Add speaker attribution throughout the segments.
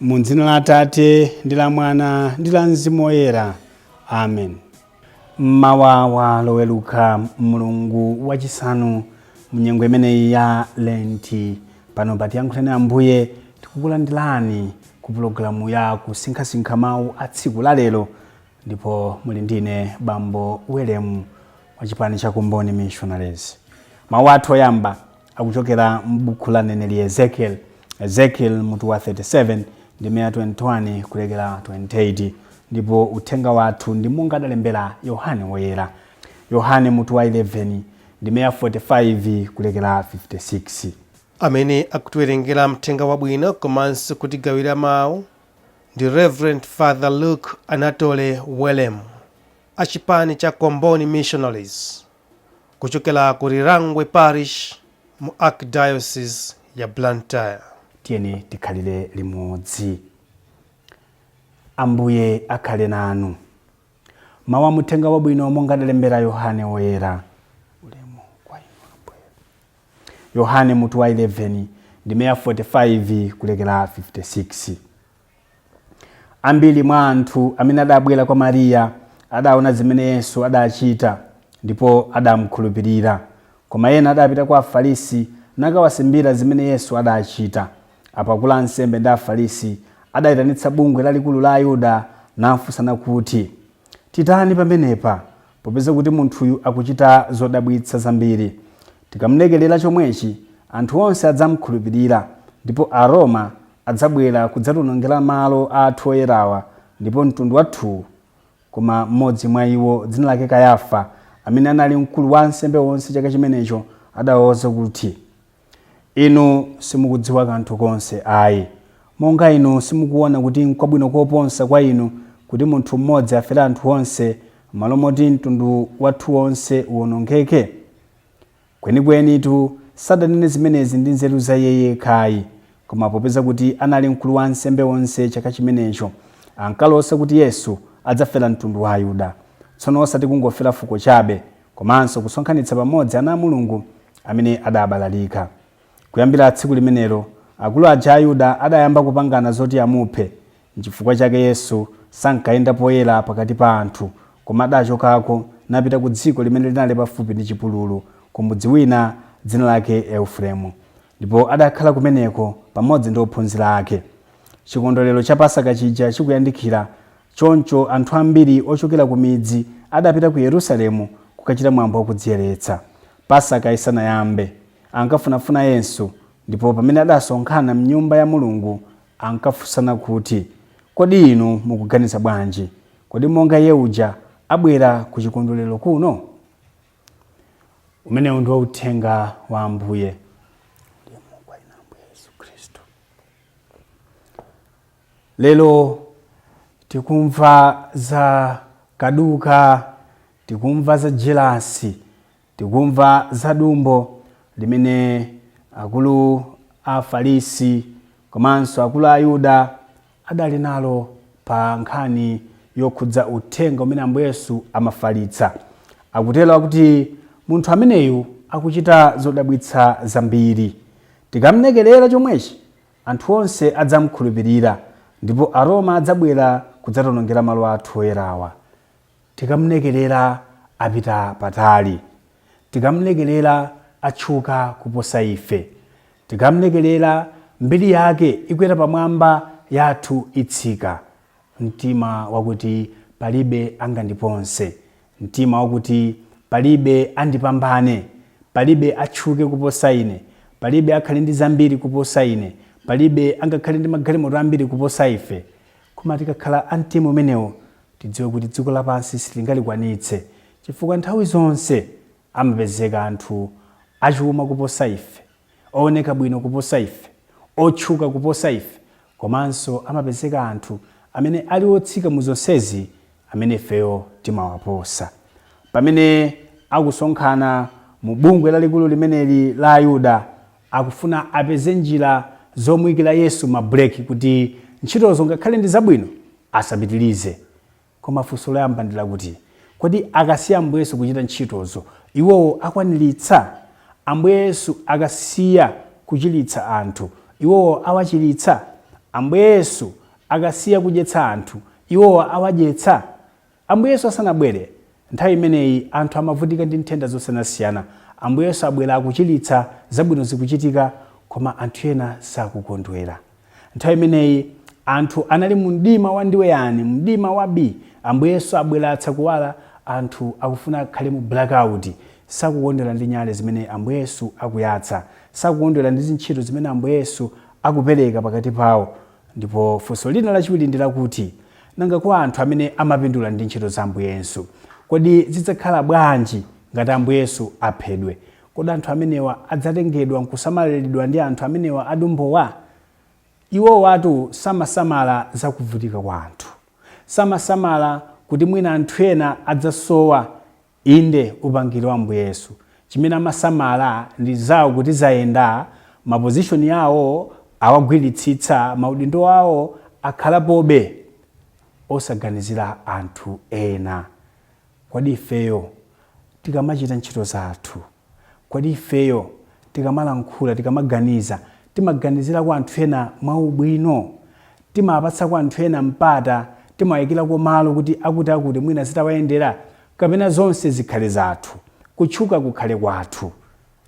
Speaker 1: mu dzina la atate ndi la mwana ndi la mzimu woyera amen mmawa wa loweruka mlungu wachisanu mnyengo imeneyi ya lenti pano pa tiyankhuleni ambuye tikukulandirani ku pulogalamu ya kusinkhasinkha mawu a tsiku la lero ndipo muli ndine bambo welemu wa chipani cha komboni missionaries mawu athu oyamba Akuchokera m'buku la mneneri Ezekieli, Ezekieli mutu wa 37 ndime ya 21 kulekera 28, ndipo uthenga wathu ndi monga adalembera Yohane Woyera. Yohane mutu wa 11 ndime ya 45 kulekera 56. Amene
Speaker 2: akutiwerengera mthenga wabwino komanso kutigawira mawu ndi Reverend Father Luke Anatole Welemu a chipani cha Comboni Missionaries. kuchokera ku Lirangwe Parish mu Archdiocese ya Blantyre. Tiyeni
Speaker 1: tikhalire limodzi. Ambuye akhale nanu. Mawu a Mthenga Wabwino monga adalembera Yohane Woyera. Ulemu kwa inu Ambuye. Yohane mutu wa 11 ndime ya 45 kulekera 56. Ambiri mwa anthu amene adabwera kwa Mariya adaona zimene Yesu adachita, ndipo adamukhulupirira. Koma ena adapita kwa Afarisi nakawasimbira zimene Yesu adachita. Apo akulu a ansembe ndi Afarisi adaitanitsa bungwe lalikulu la Ayuda nafunsana kuti, Titani pamenepa? Popeza kuti munthuyu akuchita zodabwitsa zambiri, tikamlekerera chomwechi, anthu onse adzamukhulupirira, ndipo Aroma adzabwera kudzatiwonongera malo athu oyerawa, ndipo mtundu wathuwu. Koma mmodzi mwa iwo, dzina lake Kayafa, amene anali mkulu wa ansembe onse chaka chimenecho, adawauza kuti. Inu simukudziwa kanthu konse ayi. Monga inu simukuwona kuti nkwabwino koposa kwa inu kuti munthu mmodzi afere anthu onse, mmalo moti mtundu wathu wonse uwonongeke? Kwenikwenitu, sadanene zimenezi ndi nzeru za iye yekha ayi, koma popeza kuti anali mkulu wa ansembe onse chaka chimenecho, ankalosa kuti Yesu adzafera mtundu wa Ayuda, tsono osati kungofera fuko chabe, komanso kusonkhanitsa pamodzi ana a Mulungu amene adabalalika. Kuyambira tsiku limenelo, akulu aja a Ayuda adayamba kupangana zoti amuphe. Nchifukwa chake Yesu sankayenda poyera pakati pa anthu, koma adachokako napita ku dziko limene linali pafupi ndi chipululu, ku mudzi wina dzina lake Eufuremu. Ndipo adakhala kumeneko pamodzi ndi ophunzira ake. Chikondwerero cha Pasaka chija chikuyandikira, Choncho anthu ambiri ochokera ku midzi adapita ku Yerusalemu kukachita mwambo wa kudziyeretsa, Pasaka isanayambe. Ankafunafuna Yesu, ndipo pamene adasonkhana m'Nyumba ya Mulungu, ankafunsana kuti, Kodi inu mukuganiza bwanji? Kodi monga Iye uja abwera ku chikondwerero kuno? Umenewu ndi uthenga wa Ambuye. Titamandike inu Ambuye Yesu Khristu. Lero tikumva za kaduka, tikumva za jelasi, tikumva za dumbo limene akulu a Afarisi komanso akulu a Ayuda adali nalo pa nkhani yokhudza uthenga umene Ambuye Yesu amafalitsa. Akutero kuti munthu ameneyu akuchita zodabwitsa zambiri. Tikamlekerera chomwechi, Anthu onse adzam'khulupirira, ndipo Aroma adzabwera kudzationongera malo athu oyerawa. Tikam'lekerera, apita patali. Tikam'lekerera, atchuka kuposa ife. Tikam'lekerera, mbiri yake ikwera pamwamba, yathu itsika. mtima wakuti palibe angandipose, mtima wakuti palibe andipambane, palibe atchuke kuposa ine, palibe akhale ndi zambiri kuposa ine, palibe angakhale ndi magalimoto ambiri kuposa ife. Koma tikakhala a mtima umenewo, tidziwe kuti dziko lapansi sitingalikwanitse chifukwa nthawi zonse amapezeka anthu achuma kuposa ife. ooneka bwino kuposa ife, otchuka kuposa ife, komanso amapezeka anthu amene ali otsika mu zonsezi amene ifeyo timawaposa. Pamene akusonkhana mu bungwe lalikulu limeneli la Ayuda, akufuna apeze njira zomuikira Yesu mabreki kuti ntchitozo ngakhale ndi zabwino asapitilize. Koma funso loyamba ndi lakuti, Kodi akasiya Ambuye Yesu kuchita ntchitozo, iwowo akwaniritsa? Ambuye Yesu akasiya kuchiritsa anthu, iwowo awachiritsa? Ambuye Yesu akasiya kudyetsa anthu, iwowo awadyetsa? Ambuye Yesu asanabwere, nthawi imeneyi anthu amavutika ndi nthenda zosiyanasiyana. Ambuye Yesu abwera akuchiritsa, zabwino zikuchitika, koma anthu ena sakukondwera. Nthawi imeneyi anthu anali mu mdima wandiweyani, mu mdima wabii. Ambuye Yesu abweretsa kuwala, anthu akufuna akhale mu blackout. Sakukondwera ndi nyale zimene Ambuye Yesu akuyatsa. Sakukondwera ndi zintchito zimene Ambuye Yesu akupereka pakati pawo. Ndipo funso lina lachiwiri ndi lakuti, Nanga kwa anthu amene amapindula ndi ntchito za Ambuye Yesu? Kodi zidzakhala bwanji ngati Ambuye Yesu aphedwe? Kodi anthu amenewa adzatengedwa n'kusamalilidwa ndi anthu amenewa adumbowa? Iwowatu samasamala za kuvutika kwa anthu. Samasamala kuti mwina anthu ena adzasowa, inde, upangiri wa Ambuye Yesu. Chimene amasamala ndi zawo kuti zayenda, mapozishoni awo awagwiritsitsa, maudindo awo akhalapobe, osaganizira anthu ena. Kodi ifeyo tikamachita ntchito zathu, kodi ifeyo tikamalankhula, tikamaganiza, timaganizirako anthu ena mwaubwino? Timawapatsako anthu ena mpata? Timawaikirako malo kuti akuti mwina zitawayendera? Kapena zonse zikhale zathu, kutchuka kukhale kwathu?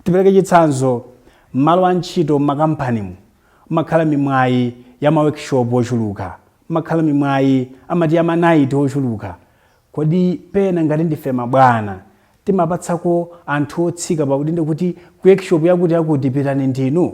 Speaker 1: Tipereke chitsanzo, M'malo antchito, m'makampanimu, m'makhala mimwayi ya mawekishopu ochuluka, m'makhala mimwayi, amati ya manaiti ochuluka. Kodi pena ngati ndife mabwana timapatsako anthu otsika pa udindo kuti ku workshop yakuti yakuti pitani ndinu?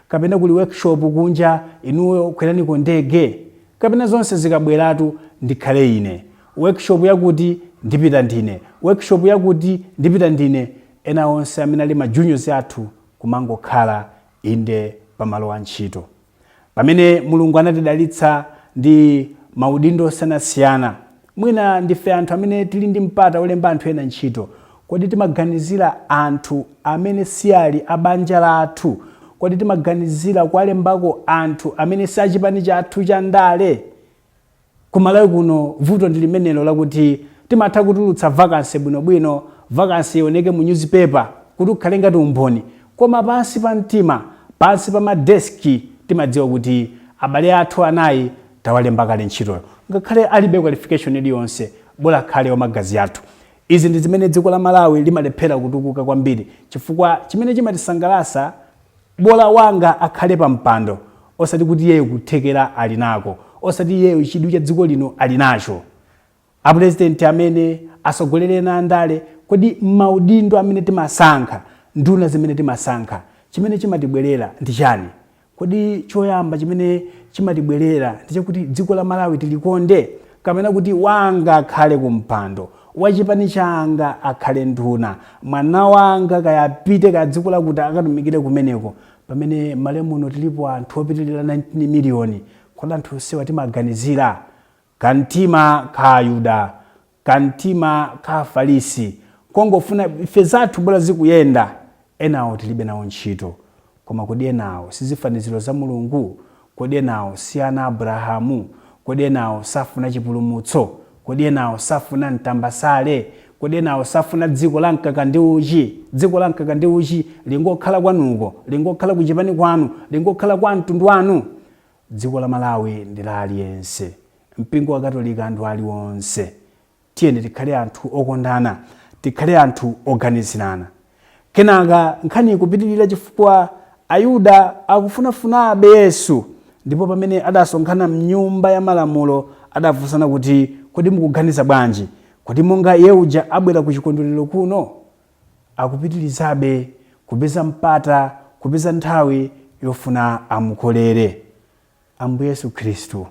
Speaker 1: Kapena kuli workshop kunja inuyo kweraniko ndege? Kapena zonse zikabweratu ndikhale ine? Workshop yakuti ndipita ndine, workshop yakuti ndipita ndine ena onse amene ali ma juniors athu kumangokhala inde pa malo a ntchito. Pamene Mulungu anatidalitsa ndi maudindo osiyanasiyana, mwina ndife anthu amene tili ndi mpata wolemba anthu ena ntchito. Kodi timaganizira anthu amene siali a banja lathu? Kodi timaganizira kuwalembako anthu amene si a chipani chathu cha ndale? Ku Malawi kuno vuto ndi limenelo lakuti timatha kutulutsa vacancy bwinobwino, vacancy ioneke mu newspaper kuti ukhale ngati umboni koma pansi pa mtima, pansi pa ma desk timadziwa kuti abale athu anayi tawalemba kale ntchitoyo ngakhale alibe qualification iliyonse bola akhale wamagazi athu. Izi ndi zimene dziko la Malawi limalephera kutukuka kwambiri chifukwa chimene chimatisangalasa, Bola wanga akhale pa mpando osati kuti iyeyo kuthekera ali nako, osati iyeyo chidwi cha dziko lino ali nacho. A Pulezidenti amene, asogoleli ena a ndale, kodi maudindo amene timasankha, nduna zimene timasankha, chimene chimatibwelera ndi chani? Kodi choyamba chimene chimatibwelera ndi chakuti dziko la Malawi tilikonde? kapena kuti wanga akhale kumpando, wachipani changa akhale nduna, mwana wanga kaya apite kaya dziko lakuti akatumikire kumeneko, pamene m'Malawi muno tilipo anthu opitilira 19 million, kodi anthu onsewa timaganizira? Kamtima ka Ayuda, kamtima ka Afarisi, kongofuna ife zathu bola zikuyenda, Enawo tilibe nawo ntchito. Koma kodi enawo sizifaniziro za Mulungu? Kodi enawo si ana a Abrahamu? Kodi enawo safuna chipulumutso? Kodi enawo safuna mtambasale? Kodi enawo safuna dziko la mkaka ndi uchi? Dziko la mkaka ndi uchi lingokhala kwanuko? Lingokhala ku chipani kwanu? Lingokhala kwa amtundu wanu? Dziko la Malawi ndi la aliyense. Mpingo wa Katolika ndi wa anthu aliwonse. Tiyeni tikhale anthu okondana. Tikhale anthu oganizirana. Kenaka nkhani ikupitirira chifukwa Ayuda akufunafunabe Yesu, ndipo pamene adasonkhana m'Nyumba yamalamulo, adafunsana kuti, Kodi mukuganiza bwanji? Kodi monga Iye uja abwera kuchikondwerero kuno? Akupitirizabe kupeza mpata, kupeza nthawi yofuna amukolere. Ambuye Yesu Khristu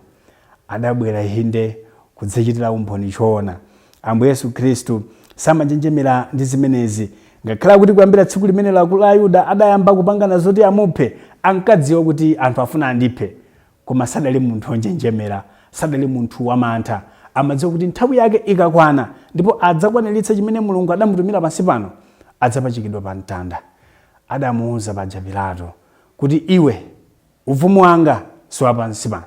Speaker 1: adabwera, inde, kudzachitira umboni choona. Ambuye Yesu Khristu samanjenjemera ndi zimenezi. Ngakhale kuti kuyambira tsiku limenelo Ayuda adayamba kupangana zoti amuphe, ankadziwa kuti anthu afuna andiphe. Koma sadali munthu wonjenjemera, sadali munthu wamantha. Amadziwa kuti nthawi yake ikakwana ndipo adzakwaniritsa chimene Mulungu adamutumira pansi pano, adzapachikidwa pamtanda. Adamuuza paja Pilato kuti, Iwe. Ufumu wanga si wa pansi pano.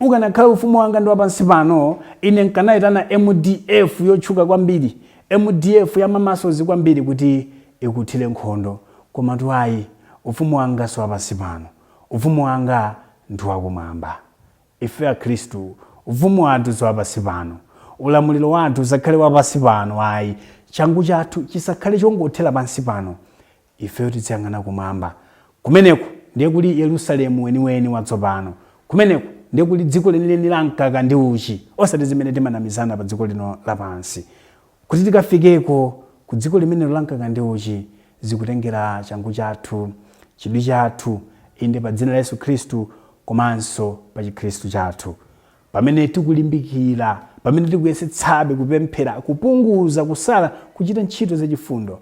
Speaker 1: Ukanakhala ufumu wanga ndi wa pansi pano, ine nkanaitana mdf yotchuka kwambiri, mdf ya ma muscles kwambiri kuti ikuthire nkhondo. Komatu ayi, ufumu wanga si wa pansi pano. Ufumu wanga ndi wa kumwamba. Ife Akhristu, ufumu wathu si wa pansi pano. Ulamuliro wathu usakhale wa pansi pano ayi. Changu chathu chisakhale chongothera pansi pano. Ifeyo tidziyang'ana kumwamba. Kumeneko ndiye kuli Yerusalemu weniweni watsopano. Kumeneko ndiye kuli dziko lenileni la mkaka ndi uchi, osati zimene timanamizana padziko lino lapansi. Kuti tikafikeko, ku dziko limenelo la mkaka ndi uchi, zikutengera changu chathu, chidwi chathu, inde, pa dzina la Yesu Khristu komanso pa chikhristu chathu. Pamene tikulimbikira, pamene tikuyesetsabe kupemphera, kupunguza, kusala, kuchita ntchito zachifundo,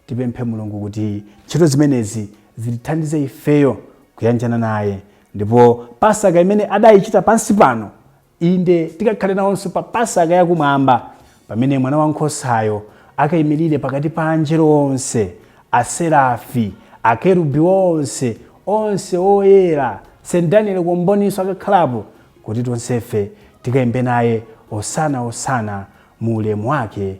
Speaker 1: Tipemphe Mulungu kuti ntchito zimenezi zitithandize ifeyo kuyanjana naye, ndipo Pasaka imene adaichita pansi pano, inde, tikakhale nawonso pa Pasaka ya Kumwamba, pamene Mwanawankhosayo akaimirire pakati pa Angelo onse, Aserafi, Akerubi onse, onse oyera, St. Daniel Comboni'nso akakhalapo, kuti tonsefe tikaimbe naye Osana, Osana mu ulemu wake.